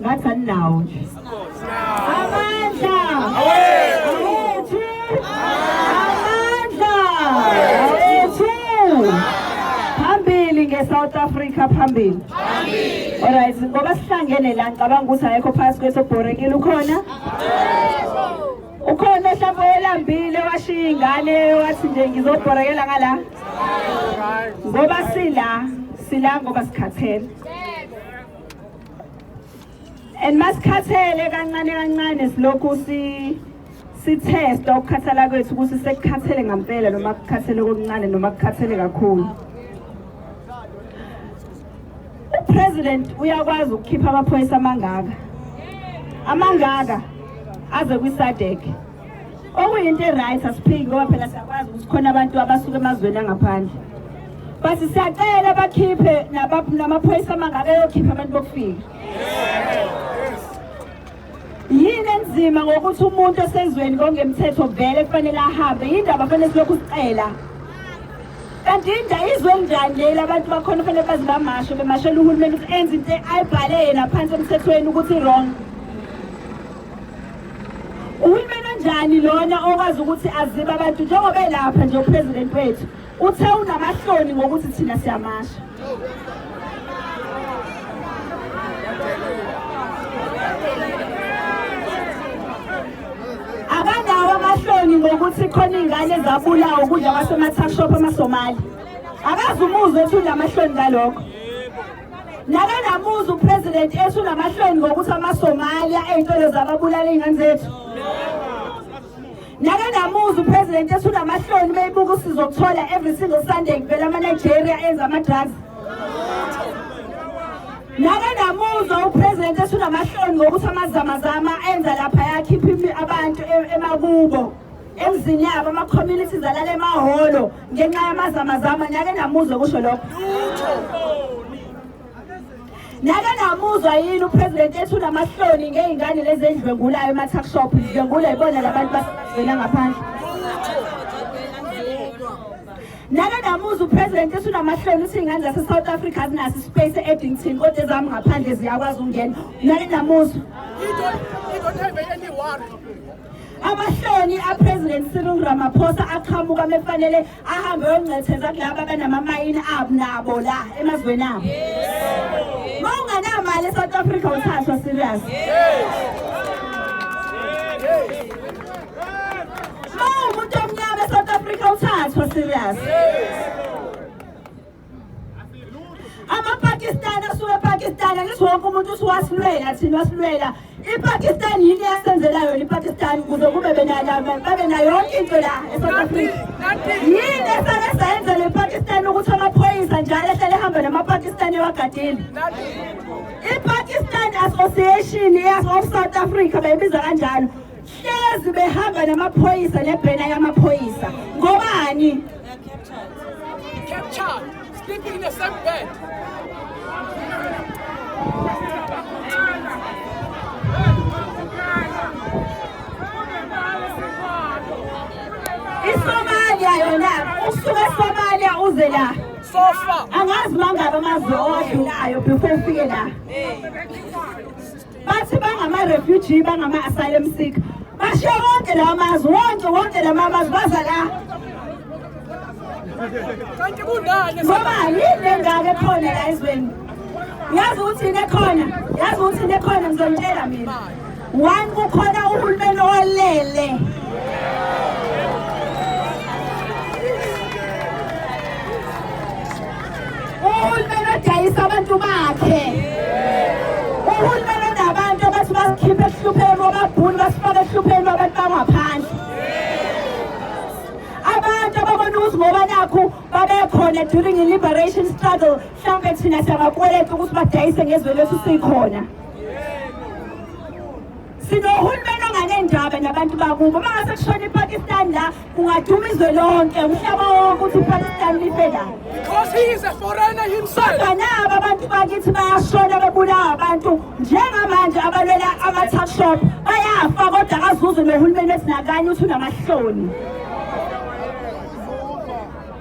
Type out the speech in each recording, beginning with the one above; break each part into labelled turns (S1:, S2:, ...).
S1: ngathi aninawo nje amandla awethu amandla awethu phambili nge-south africa phambili alright ngoba sihlangene la ngicabanga ukuthi ayekho phasi kwethu obhorekile ukhona ukhona mhlawumbe oyelambile washiya ingane wathi nje ngizobhorekela ngala ngoba sila sila ngoba sikhathele and masikhathele kancane kancane silokhu si sithesta ukukhathala kwethu ukuthi sekukhathele ngampela noma kukhathele okuncane noma kukhathele kakhulu upresident uyakwazi ukukhipha amaphoyisa amangaka amangaka aze kwisadek okuyinto e-right asiphiki ngoba phela siyakwazi ukuthi khona abantu abasuke emazweni angaphandle but siyacela bakhiphe namaphoyisa amangabe eyokhipha abantu bokufika yini enzima ngokuthi umuntu osezweni kongemthetho vele kufanele ahambe yindaba fanele silokhu sicela kanti inja izwe njani leli abantu bakhona fanele baze bamasho bemashela uhulumeni ukuthi enze into ayibhale yena phansi emthethweni ukuthi wrong Uhulumeni onjani lona okwazi ukuthi azibe abantu njengoba elapha nje upresident wethu uthe unamahloni ngokuthi thina siyamasha. Akanawo amahloni ngokuthi khona ingane zabulawa ukudla kwasematha shop amaSomali. Akazi umuzwe ethi unamahloni ngalokho. Nakanamuzi upresident esunamahloni ngokuthi amaSomalia ey'ntolo zababulala iy'ngane zethu. Nakanamuzi upresident esunamahloni uma ebuka usizo okuthola every single Sunday kuvela ama-Nigeria enza ama-drugs. Nakanamuzi upresident esunamahloni ngokuthi amazamazama enza lapha yakhipha abantu e-, emakubo emzini yabo ama-communities alala emahholo. ngenxa yamazamazama nake namuzwe kusho lokho nake namuzwa yini upresident ethi unamahloni ngey'ngane lezi endlwengulayo ema-tuckshop ndlwengula yibona labantu basebenzela ngaphandle nake namuzwa upresident ethi unamahloni uthi iy'ngane zase-south africa azinaso ispace e-eddington kodwa ezami ngaphandle ziyakwazi ukungena nake namuzwa amahloni apresident Cyril Ramaphosa aqhamuka mefanele ahambe yongcetheza kulabo abanamamayini abo nabo la emazweni abo mawunganamali eSouth Africa uthathwa serious mawumuntu omnyama eSouth Africa uthathwa serious amapakistani asuke epakistani angithi wonke umuntu usuwasilwela thina wasilwela ipakistani yini eyasenzela yona ipakistani kuze kube babe nayo yonke into la esouth africa yini esake sayenzela ipakistani ukuthi amaphoyisa njalo ehlele ehamba namapakistani ewagadile ipakistani association of south africa bayibiza kanjalo hlezi behamba namaphoyisa nebhena yamaphoyisa ngobani captured
S2: sleeping in the same bed
S1: isomalia yona usuke esomalia uze la sofa
S2: angazi mangaba
S1: amazwe owadlulayo before ufike la bathi bangama-refugee bangama-asylum seeker bashiya wonke lawa mazwe wonke wonke lama mazwe baza la
S2: kanti kungani ngoba yini
S1: lengaka ekhona la ezweni yazi ukuthi into ekhona yazi ukuthi into ekhona ngizonitshela mina one kukhona uhulumeni olele uhulumeni odayisa abantu bakhe uhulumeni onabantu abathi basikhiphe ehlupheni bababhuni basifake ehlupheni babantu bangaphandle abantu ababona ukuthi ngoba nakhu babekhona during i-liberation struggle mhlawumbe thina siyabakweleta ukuthi badayise ngezwe lethu sikhona sinohulumeni onganendaba nabantu bakubo uma ngase kushona ipakistan la kungaduma izwe lonke umhlaba wonke ukuthi ipakistan life la
S2: kodwa nabo abantu
S1: bakithi bayashona bebulawa abantu njengamanje abalwela ama-tuckshop bayafa kodwa kazuze nohulumeni esinakanye ukuthi unamahloni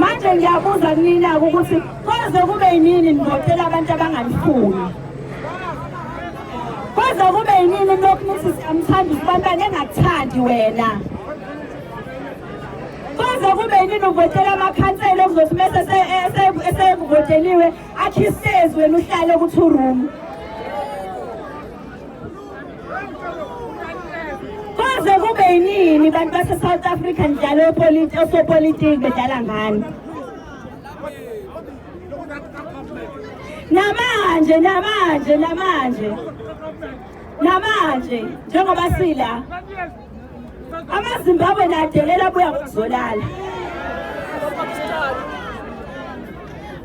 S1: manje ngiyabuza kunina-ke ukuthi koze kube yinini nivotela abantu abanganifuni koze kube yinini lokhu nithi siyamthanda usibantwana engakuthandi wena koze kube yinini uvotela amakhansela okuzothi mese esevoteliwe akhistezi wena uhlale ukuthi urumu Koze kube yinini bantu base-South Africa njalo osopolitiki bedlala ngani? Namanje, namanje, namanje. Namanje njengoba sila amazimbabwe nadelela buya ngokuzolala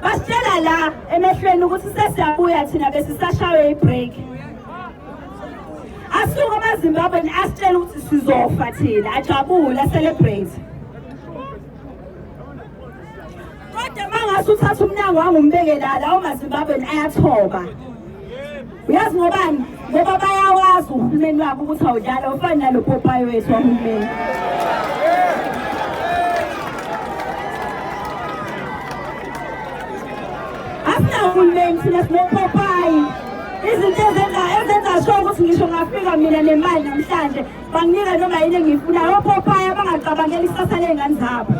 S1: basitshela la emehlweni ukuthi sesiyabuya thina besisashawe ibreak asuke amazimbabwe asitshela ukuthi sizofa thina ajabule acelebrate kodwa mangase uthatha umnyango wangumbeke la lawo mazimbabweni ayathoba uyazi ngobani ngoba bayawazi uhulumeni wabo ukuthi awudlala ufani nalo popayi wethu wahulumeni asinahulumeni thina sinopopayi izinto ezenza ezenza sho ukuthi ngisho ngafika mina nemali namhlanje banginika noma yini engiyifunayo opophaya abangacabangeli ikusasa ley'ngane zabo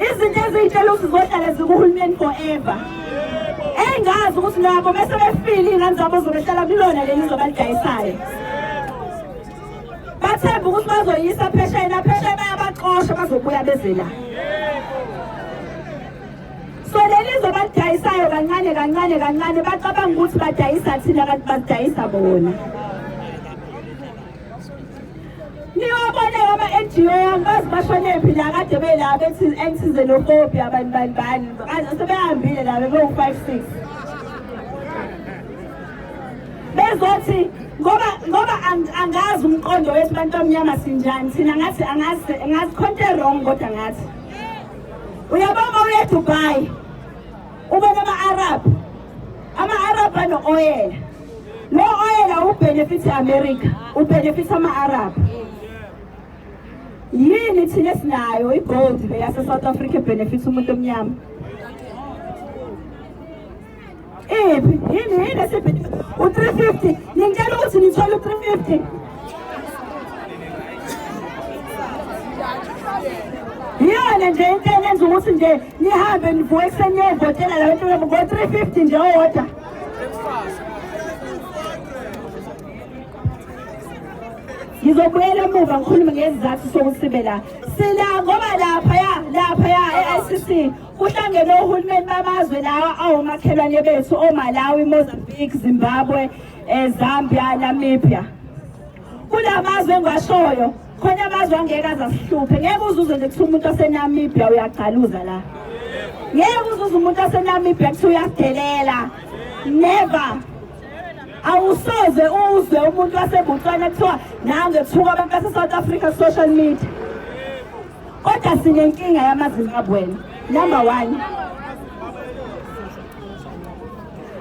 S1: izinto eziyitshela ukuthi zohlale zikuhulumeni forever engazi ukuthi nabo bese befile iy'ngane zabo zobehlala kulona leli zobalidayisayo bathemba ukuthi bazoyisa pheshayena pheshaye bayabaxosha bazobuya beze la so leli zobalidayisayo kancane kancane kancane bacabanga ukuthi badayisa thina kanti badayisa bona niyobona yaba NGO angazi bashonephi la kade bela bethi ensize nokopi abantu bani bani sebehambile la bebewu 5 6 bezothi ngoba ngoba angazi umqondo wethu bantu omnyama sinjani thina ngathi angazi ngazi khonto wrong kodwa ngathi uyabona uye Dubai ubona ama Arab ama Arab ano oil lo oil awubenefit America ubenefit ama Arab yini thina sinayo igold le yase South Africa benefit umuntu omnyama Ephi, yini yini esibhidi u-350 ningitshela ukuthi nithola u-350 iyona nje into enenza ukuthi nje nihambe nivuke ekuseni niyovotela la bantu ngo-350 nje owodwa ngizobuyela emuva ngikhulume ngezizathu sokuthi sibe la sila ngoba laphaya laphaya e-icc Kuhlangene ohulumeni bamazwe lawa awomakhelwane bethu oMalawi, Mozambique, Zimbabwe, eh, Zambia, Namibia. Kula mazwe engiwashoyo khona amazwe angeke azasihluphe ngeke uzuze nje kuthiwa umuntu wasenamibia uyagcaluza la ngeke uzuze umuntu wasenamibia kuthiwa uyadelela never awusoze uzwe umuntu wasebutswana kuthiwa nange kuthiwa abantu base-south africa social media kodwa sinenkinga yamazimbabweni number one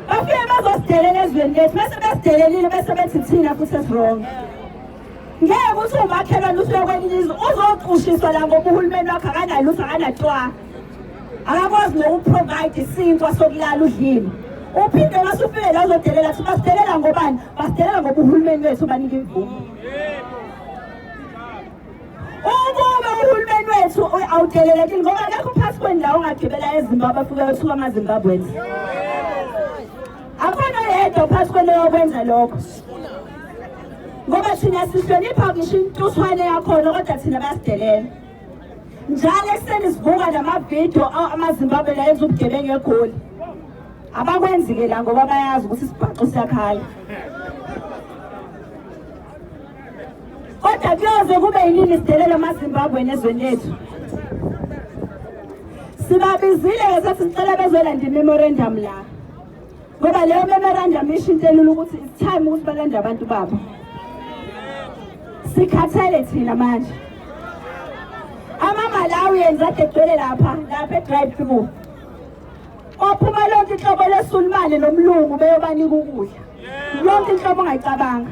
S1: bafike bazosidelela ezweni lethu bese besidelelile bese bethi thina futhi esirong ngeke ukuthi umakhelwane usuke kwelinye izwe uzoqushiswa la ngoba uhulumeni wakho akanalutho akanatwa akakwazi nokuprovide isinkwa sokulala udlile uphinde masufike la uzodelela kuthi basidelela ngobani basidelela ngoba uhulumeni wethu banika imvumo Ukube uhulumeni wethu awudelelekile ngoba akekho phasi kwendawo ongagibela eZimbabwe afike yosuka amaZimbabweans. Akhona yedwa phasi kwento yokwenza lokho. Ngoba thina sihlonipha ngisho intuswane yakhona kodwa thina basidelela. Njalo ekuseni sivuka namavidiyo amaZimbabwe la enza ubugebengu eGoli. Abakwenzi-ke la ngoba bayazi ukuthi isibhaxu siyakhala. kodwa kuyoze kube yinini sidelela amazimbabwe nezweni lethu sibabizile ke sathi sicela bezolanda imemorandum la ngoba leyo memorandum isho into elula ukuthi it's time ukuthi balande abantu babo sikhathele thina manje amamalawians adedwele lapha lapha edrive through ophuma lonke inhlobo lesulumane nomlungu beyobanika ukudla yonke inhlobo ongayicabanga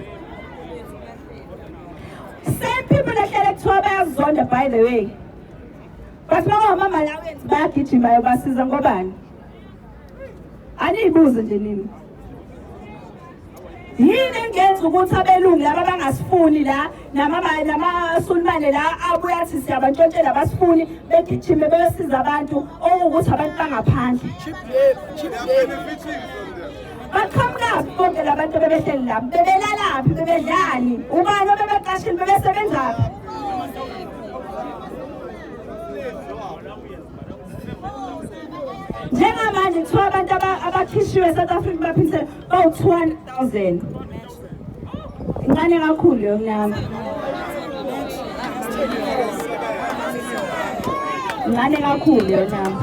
S1: same people ehlele kuthiwa bayazonda by the way but bangawamamalawians bayagijima yobasiza ngobani aniyibuze nje nini yini engenza ukuthi abelungu laba bangasifuni la namasulumane la abuye athi siyabantshontshela abasifuni begijime beyosiza abantu okuwukuthi abantu bangaphandle baqhamukaphi bonke la bantu bebehleli lapho bebelalaphi bebedlani ubani obebecashile bebesebenzaphi njengamanje kuthiwa abantu abakhishiwe e-south africa baphise bawu-200,000 incane kakhulu leyo mnami incane kakhulu leyo mnami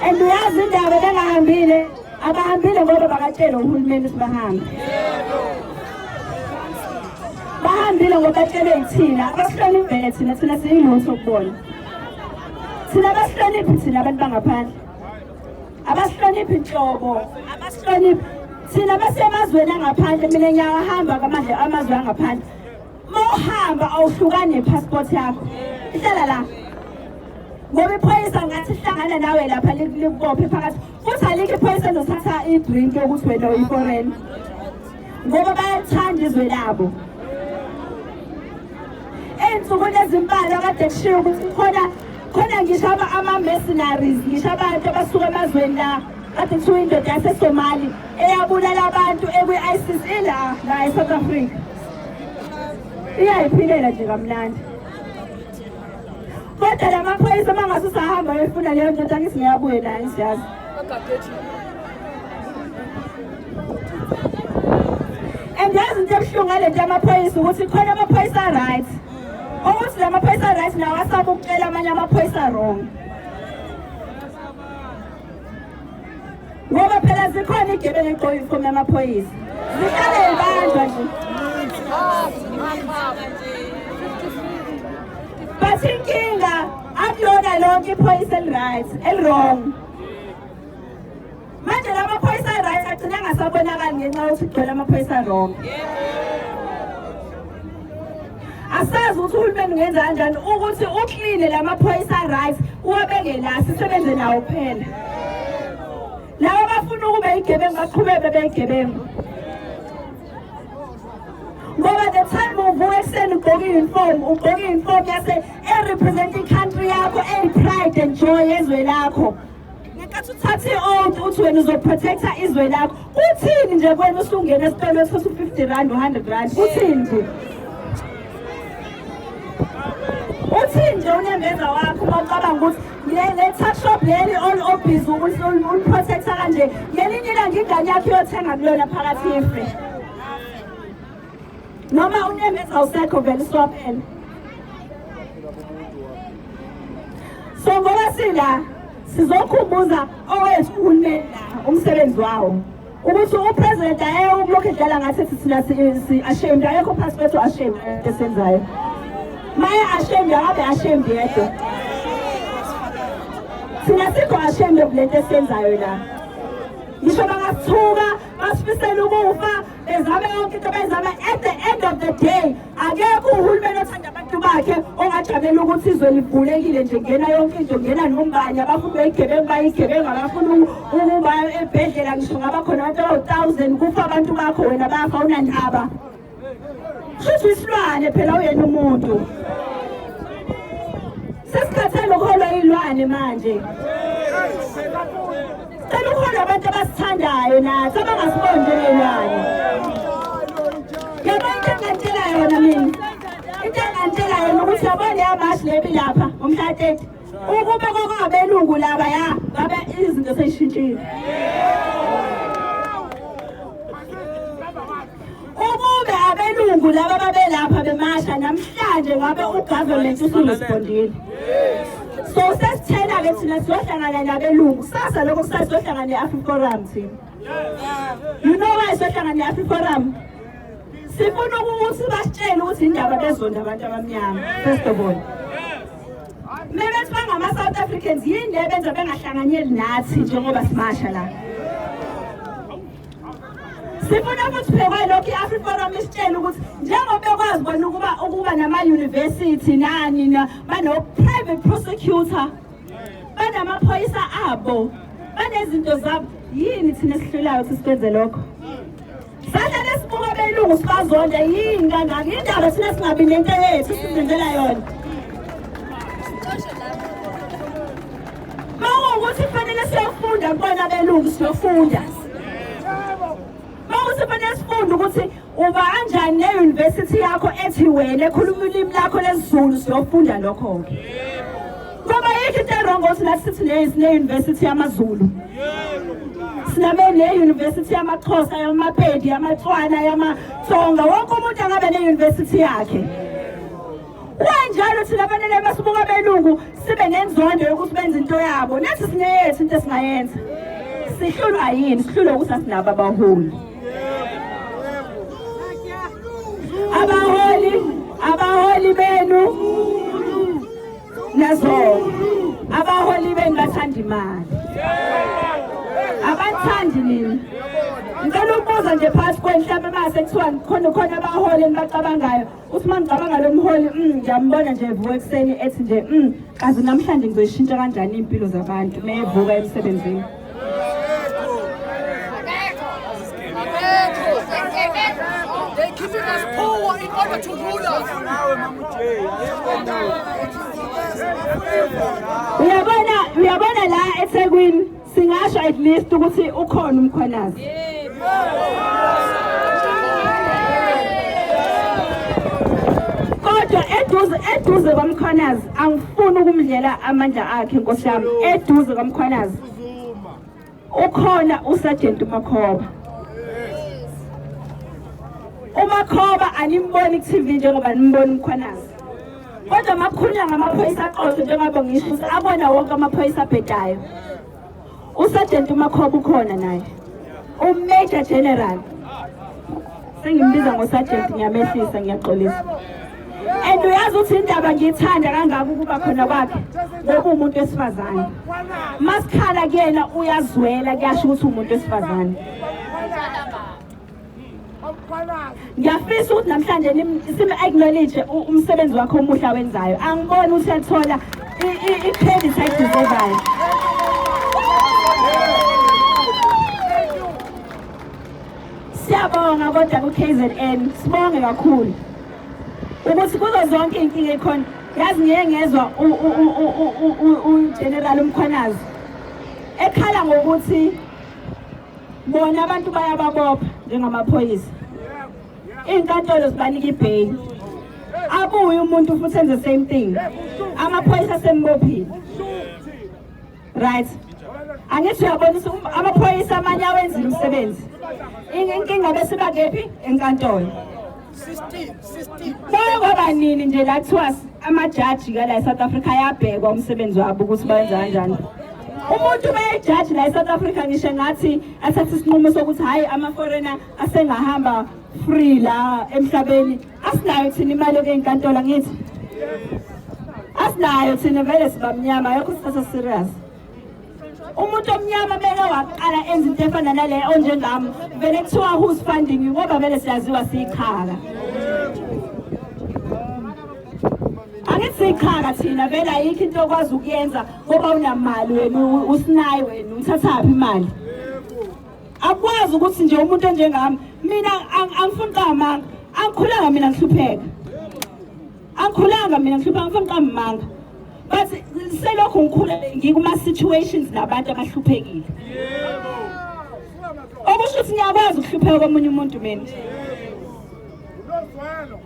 S1: and uyazi indaba bengahambile abahambile ngoba bakatshelwe uhulumeni ukuthi bahambe bahambile ngoba batshelwe yithina abasihlonivele thina thina siyilutho kubona thina abasihloniphi thina abantu bangaphandle abasihloniphi nhlobo abasihloniphi thina basemazweni angaphandle mina ngiyawahamba kwamandle amazwe angaphandle uma uhamba awuhlukane nepassport yakho ihlala la ngoba iphoyisa ngathi hlangana nawe lapha likubophe phakathi futhi alikho iphoyisa elizothatha i-drink yokuthi wena uyiforeign ngoba bayathanda izwe labo ey'nsukwini ezimbalwa kade kushiwo ukuthi khona khona ngisho ama-mercenaries ngisho abantu abasuka emazweni la kade kuthiwa indoda yasesomali eyabulala abantu ekwi-isis ila la e-south africa iyayiphilela nje kamnandi kodwa la maphoyisa uma ngase usahamba ayofuna leyo ndoda angithi ngiyabuye naye ngiyazi and yazi into ebuhlungu ngale nto yamaphoyisa ukuthi khona amaphoyisa right ukuthi la maphoyisa right nawo asaba ukucela amanye amaphoyisa wrong ngoba phela zikhona igebengu egqoka ifomu yamaphoyisa zihlale yibanjwa nje but inkinga akulona lonke iphoyisa eli-right eli-wrong manje la maphoyisa a-right agcina angasabonakali ngenxa yokuthi kugcwele amaphoyisa wrong yeah. asazi ukuthi uhulumeni ungenza kanjani ukuthi ukline la maphoyisa right uwabeke la sisebenze nawo kuphela laba bafuna ukube igebengu baqhubeke bebeyigebengu ngoba the time uvuka ekuseni ugqoke i-uniform ugqoke i-uniform yase erepresenting country yakho eyi-pride and joy yezwe lakho ngenkathi uthatha i-oath uthi wena uzoprotecta izwe lakho kuthini nje kwena usungena esitolo ethosa u-50 rand u-100 rand kuthini nje uthini nje unembeza wakho uma ucabanga ukuthi le-tuckshop leli olobhizi uliprotecta kanje ngelinye ilanga ingane yakho iyothenga kulona phakathi ife noma unemeza awusekho vele isiwaphela so ngoba sila sizokhumbuza owethu uhulumeni la umsebenzi wawo ukuthi upresident ayewe ukulokhu edlala ngathi thina si-ashamed ayekho phasi kwethu ashamed esenzayo maye ashamed akabe ashamed yedwa thina sikho ashamed kulento esenzayo la ngisho bangasithuka basifisela ukufa bezame yonke into bezame at the end of the day akekho uhulumeni othanda abantu bakhe ongajabela ukuthi izwe livulekile nje ngena yonke into ngena nombani abafuni beyigebengu bayigebengu abafuni ukuba ebhedlela ngisho ngaba khona abantu abawu-thousand kufa abantu bakho wena bafa unandaba Shuthi isilwane phela uyena umuntu. Sesikhathele ukuholwa ilwane manje. Cela ukhona abantu abasithandayo nathi abangasiboni njengelwane. Yabona into engantshela yona mina. Into engantshela yona ukuthi yabona yamashi lebi lapha umhla 30. Ukube kwakungabelungu laba ya ngabe izinto seyishintshile. ukube abelungu laba babelapha bemasha namhlanje ngabe ugovernment usuresbondile so sesithena-ke thina sizohlangana nabelungu sasa lokho kusasa sizohlangana ne-afriforum thina you know why sizohlangana ne-afriforum sifuna ukuthi basitshele ukuthi indaba bezonda abantu abamnyama first of all mebethi bangama-south africans yini le benza bengahlanganyeli nathi njengoba simasha la sifuna ukuthi phekwe lokhu i-afriforum isitshele ukuthi njengoba bekwazi bona ukuba ukuba nama-university nani bano-private prosecutor banamaphoyisa abo banezinto zabo yini thina esihlulayo ukuthi sikwenze lokho sahlale sibuka belungu sibazonda yini kangaka indaba thina singabi nento yethu sizenzela yona Mawukuthi kufanele siyofunda kubona belungu siyofunda. Mawukuthi kufanele sifunde ukuthi uba kanjani ne-university yakho ethi wena ekhuluma ulimi lakho lesizulu siyofunda lokho-ke. Ngoba yikho into erongo ukuthi nathi sithi ne-university yamazulu. Siname ne-university yamaXhosa, yamaPedi, yamaTswana, yamaTsonga. Wonke umuntu angabe ne-university yakhe. Kwanjalo thina fanele basibuka belungu sibe nenzondo yokuthi benze into yabo. Nathi sineyethu into esingayenza. Sihlulwa yini? Sihlulwa ukuthi asinabo abaholi. Abaholi, abaholi benu. Nazo. Abaholi benu bathanda imali. Abathandi nini? Ngicela ukubuza nje phakathi kwenhlamba mase kuthiwa khona khona abaholi enibacabangayo. uthi uma ngicabanga lo mholi mm, ngiyambona nje evuka ekuseni ethi nje mm, kazi namhlanje ngizoyishintsha kanjani iy'mpilo zabantu uma evuka emsebenzini They're
S2: keeping us poor in order to rule us.
S1: Uyabona, uyabona la eThekwini Singasho at least ukuthi ukhona umkhwanazi. Kodwa eduze eduze kwamkhwanazi angifuni ukumdlela amandla akhe Nkosi yami eduze kwamkhwanazi. Ukhona uSergeant Makhoba. umakhoba animboni ku-tv njengoba nimbona umkhwanazi kodwa makhulunywa ngamaphoyisa aqotho njengoba ngisho ukuthi abona wonke amaphoyisa abhedayo usajenti umakhoba ukhona naye umajor general sengimbiza ngosajenti ngiyamehlisa ngiyaxolisa and uyazi ukuthi indaba ngiyithanda kangaka ukuba khona kwakhe ngoba umuntu wesifazane masikhala kuyena uyazwela kuyasho ukuthi umuntu wesifazane ngiyafisa ukuthi namhlanje sime-acknowledge umsebenzi wakhe omuhle awenzayo angiboni ukuthi ethola i-credit ayideservayo siyabonga kodwa ku-k z n sibonge kakhulu ukuthi kuzo zonke iy'nkinga ekhona yazi ngiye ngezwa ugeneral umkhwanazi ekhala ngokuthi bona abantu bayababopha njengamaphoyisa iy'nkantolo zibanika ibheyili abuye umuntu futhi enze same thing amaphoyisa asembophile right angithi uyabonisa um, amaphoyisa amanye awenzile umsebenzi inkinga besibakephi enkantolo Kwaba nini nje la kuthiwa amajaji ka la eSouth Africa ayabhekwa umsebenzi wabo ukuthi bayenza kanjani? umuntu ubeyijaji la e-south africa ngisho ngathi athathe isinqumo sokuthi hhayi ama-foreigner asengahamba free la emhlabeni asinayo thina imali yokuyinkantolo ngithi asinayo thina vele sibamnyama yokho sithatha serious umuntu omnyama beke waqala enza into efana nale onjengami vele kuthiwa who's funding you ngoba vele siyaziwa siyichaka angithi siyichaka thina vele ayikho into okwazi ukuyenza ngoba unamali wena usinayi wena uthathaphi imali akwazi ukuthi nje umuntu onjengami mina angifuni qamanga angikhulanga mina ngihlupheka Angikhulanga mina ngihlupha ngifuna ngiqambanga. But selokhu ngikhula ngikuma situations nabantu abahluphekile. Yebo. Okusho ukuthi ngiyakwazi ukuhlupheka komunye umuntu mina.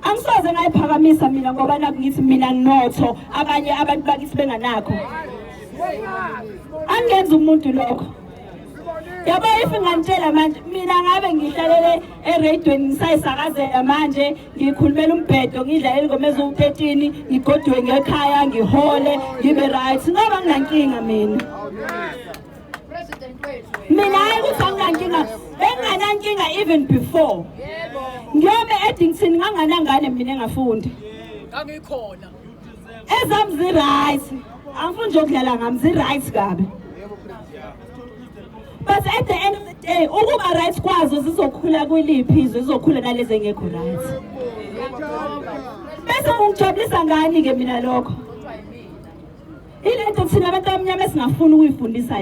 S1: Angisoze ngayiphakamisa mina ngoba nakungithi mina notho abanye abantu bakithi benganakho. Angenza umuntu lokho. yabo if ngantshela manje mina ngabe ngihlalele eradweni ngisayisakazela manje ngikhulumela umbhedo ngidla elingoma eziwu-13 ngigoduke ngekhaya ngihole ngibe right ngoba nginankinga mina mina hayi ukuthi anginankinga benginganankinga even before ngiyobe edington nganganangane mina engafundi ngangikhona
S2: Ezam
S1: zi right. Angifuni nje ukudlala ngami zi right kabi. But at the end of the day ukuba right kwazo zizokhula kwiliphi izwe zizokhula nalezi engekho right. Bese ungijabulisa ngani ke mina lokho? Ilento thina abantu abamnyama esingafuni ukuyifundisa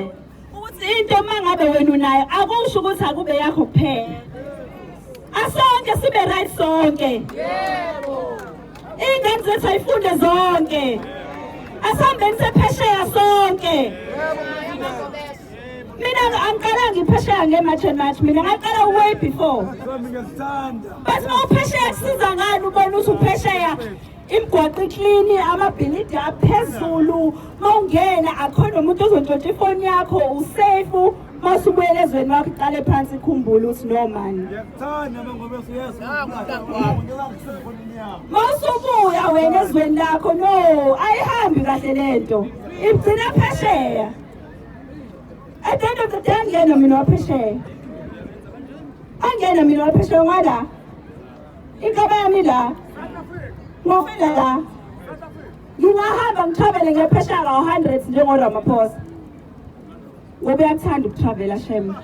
S1: ukuthi into uma ngabe wena unayo akusho ukuthi akube yakho kuphela asonke sibe right sonke yebo ingane zethu ayifunde zonke asambeni sephesheya sonke mina angiqala ngiphesheya nge-march and march mina ngaqala way before but uma uphesheya kusiza ngani ubona ukuthi uphesheya imigwaqo iklini amabhilidi aphezulu mawungena akhona umuntu ozontshontsha ifoni yakho usafe masubuyela ezweni wakho iqale phansi ikhumbule ukuthi no mani masubuya wena ezweni lakho no ayihambi kahle le nto ibugcina phesheya at the end of the day angena mina waphesheya angena mina waphesheya ngwala Inhlaba yami la. Ngofela la. Ngingahamba ngitravele ngephesha ka 100 njengo Ramaphosa. Ngoba uyakuthanda ukutravela shem.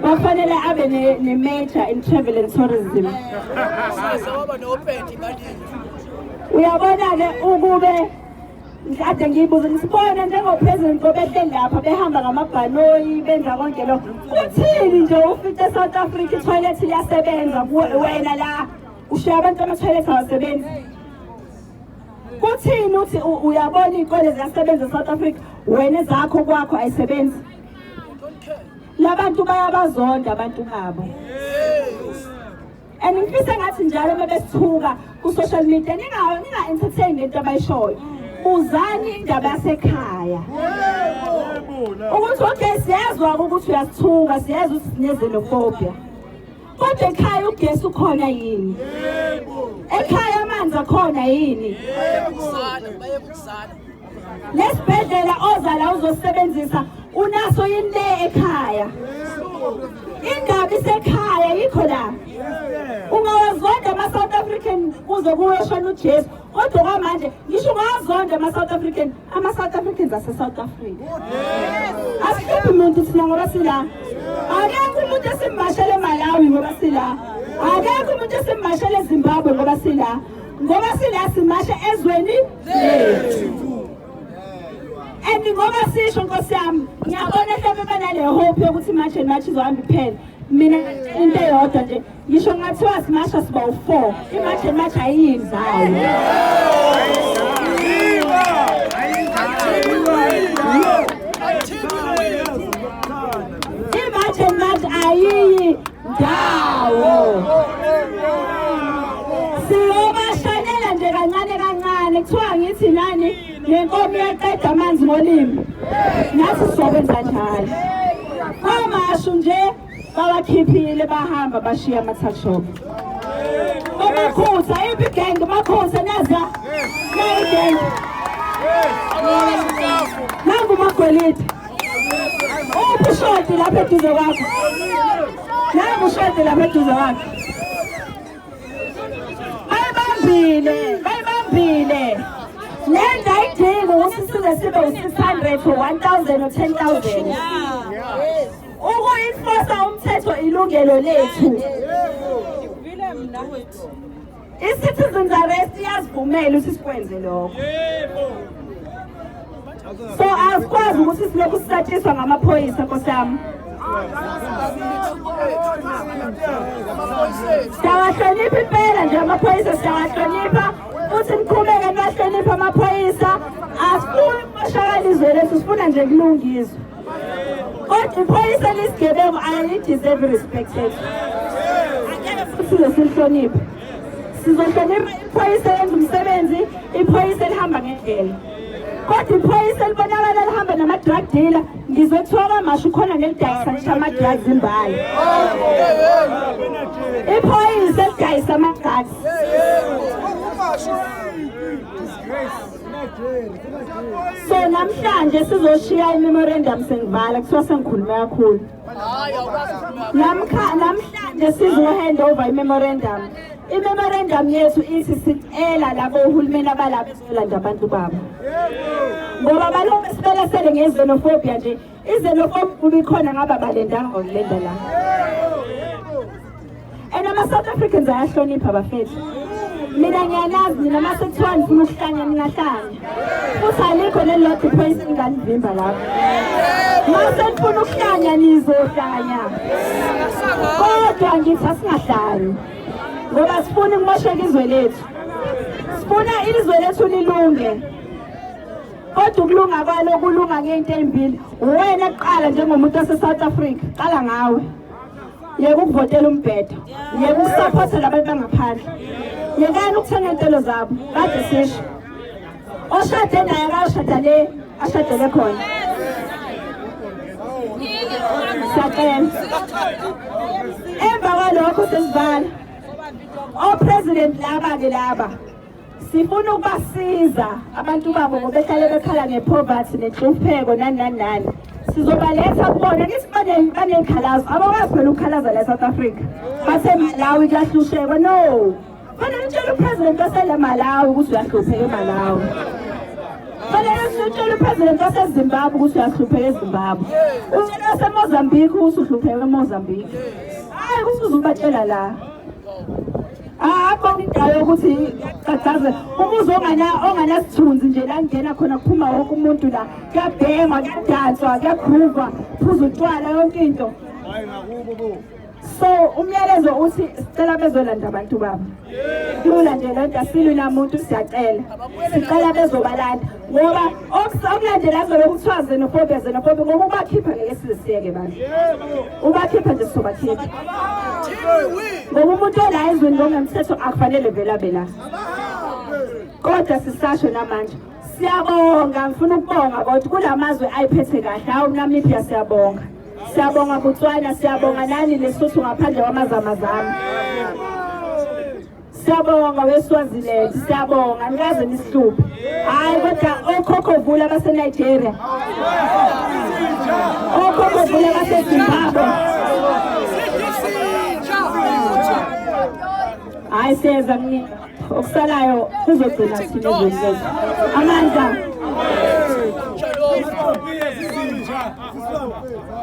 S1: Bafanele abe ne, ne major in travel and tourism. Uyabona ke ukube Ngikade ngiyibuza nisibona njengopresident obehleli lapha behamba ngamabhanoyi benza konke lo kuthini nje ufice south africa ithoyilethi liyasebenza wena la ushiya abantu amathoyilethi awasebenzi kuthini uthi uyabona iy'kole ziyasebenza e-south africa wena zakho kwakho ayisebenzi labantu bayabazonda abantu babo and ngifisa ngathi njalo uma besithuka ku-social media ninga-entertain le nto abayishoyo buzani indaba yasekhaya ukuthi okay siyezwa-ke ukuthi uyasithuka siyezwa ukuthi sinezenofobia kodwa ekhaya ugesi ukhona yini ekhaya amanzi akhona yini bayebukuzana nesibhedlela oza la uzosebenzisa unaso yini le ekhaya indaba isekhaya yikho la ungawazonda ama-south african kuze kuweshona ujesu kodwa kwamanje ngisho ungawazonda ama-south african ama-south africans ase-south africa asihluphi muntu thina ngoba sila akekho umuntu esimbashele emalawi ngoba sila akekho umuntu esimbashele ezimbabwe ngoba sila ngoba sila simashe ezweni lethu and ngoba sisho nkosi yami ngiyabona mhlawumbe banale hope yokuthi march and march izohamba iphele mina into eyodwa nje ngisho ngathiwa simasha siba u-four imarch and march ayiyidlayo ndawo siyobashanela nje kancane kancane kuthiwa ngithi nani nenkomo iyaqeda amanzi ngolimi nathi sizokwenza njalo kwamashu nje bawakhiphile bahamba bashiya amathashop omakhutha iphi igenge makhutha naza nayigenge nangu magwelide Ushodi lapha eduze kwakho. Naye ushodi lapha eduze kwakho. Bayibambile, bayibambile. Le nto ayidingi ukuthi size sibe u-600 or 1000 or 10000. Ukuyifosa umthetho ilungelo lethu. Vile mna wethu. I-citizens arrest iyasivumela ukuthi sikwenze lokho so asikwazi ukuthi silokhu sisatshiswa ngamaphoyisa nkosi yami siyawahlonipha impela nje amaphoyisa siyawahlonipha futhi niqhubeke niwahlonipha amaphoyisa asifuni ukumoshakala izwe lethu sifuna nje kulungiswe kodwa iphoyisa lesigebengu ayalideserve respect yethu angeke futhi lesilihloniphe sizohlonipha iphoyisa elenza umsebenzi iphoyisa elihamba ngendlela kodwa iphoyisa elibonakala lihamba nama-drug dealer ngizwe kuthiwa kwamasho ukhona nelidayisa ngisho ama-drugs imbali iphoyisa elidayisa ama-drugs Disgrace. so namhlanje sizoshiya imemorandum sengivala kuthiwa sengikhulume kakhulu namhlanje sizohand over imemorandum imemorandum yethu ithi sicela labo uhulumeni abalabo bezolanda abantu babo ngoba balobe sibelesele ngezenophobia nje Izelofop kubikhona ngaba balendanga ngokulenda la. And ama South Africans ayahlonipha bafethu. Mina ngiyanazi nina mase kuthiwa ngifuna ukuhlanya ningahlanya. Futhi alikho lelodwa iphoyisa engingalivimba lapho. Mase ngifuna ukuhlanya nizohlanya. Kodwa ngithi asingahlanya. Ngoba sifuna ukumosheka izwe lethu. Sifuna izwe lethu lilunge. kodwa ukulunga kwalo kulunga ngeyinto ezimbili uwena kuqala njengomuntu wase-south africa qala ngawe yeke ukuvotela umbhedo yeke ukusapotha labantu bangaphandle yekani ukuthenga iy'ntelo zabo kade sisho oshade naye akashada le ashadele khona siyacela emva kwalokho sesivala opresident laba-ke laba sifuna ukubasiza abantu babo ngoba behlale bekhala ngepoverty nenhlupheko nani nani nani sizobaletha kubona kithi banezikhalazo abakwazi phela ukukhalaza la south africa basemalawi kuyahlushekwa no fanele utshela upresident wasele malawi ukuthi uyahlupheka emalawi fanele utshela upresident wasezimbabwe ukuthi uyahlupheka ezimbabwe utshela wasemozambique ukuthi uhlupheka emozambique hayi ukuthi uzubatshela la akhona indawo yokuthi cacaze umuzi onganasithunzi nje la ngena khona kuphuma wonke umuntu la kuyabhengwa kuyadantswa kuyagruvwa phuza utshwala yonke into so umyalezo uthi sicela bezolanda abantu babo kulula nje lento asilwi namuntu siyacela sicela bezobalanda ngoba okulandela azona kuthiwa zenofobe zenofobe ngoba ubakhipha ngeke sizisiyeke bantu ubakhipha nje sizobakhipha ngoba umuntu ola ezweni ngokungemthetho akufanele vele abe la kodwa sisasho namanje siyabonga ngifuna ukubonga kodwa kula mazwe ayiphethe kahle hawu namibia siyabonga siyabonga botswana siyabonga nani lesotho ngaphandle kwamazamazama Siyabonga weSwaziland, siyabonga nikaze nisihluphe. Hayi kodwa okhokho vula abaseNigeria. Okhokho vula abaseZimbabwe. Hayi siyeza mnini. Okusalayo kuzogcina thina ezweni Amandla. Amen.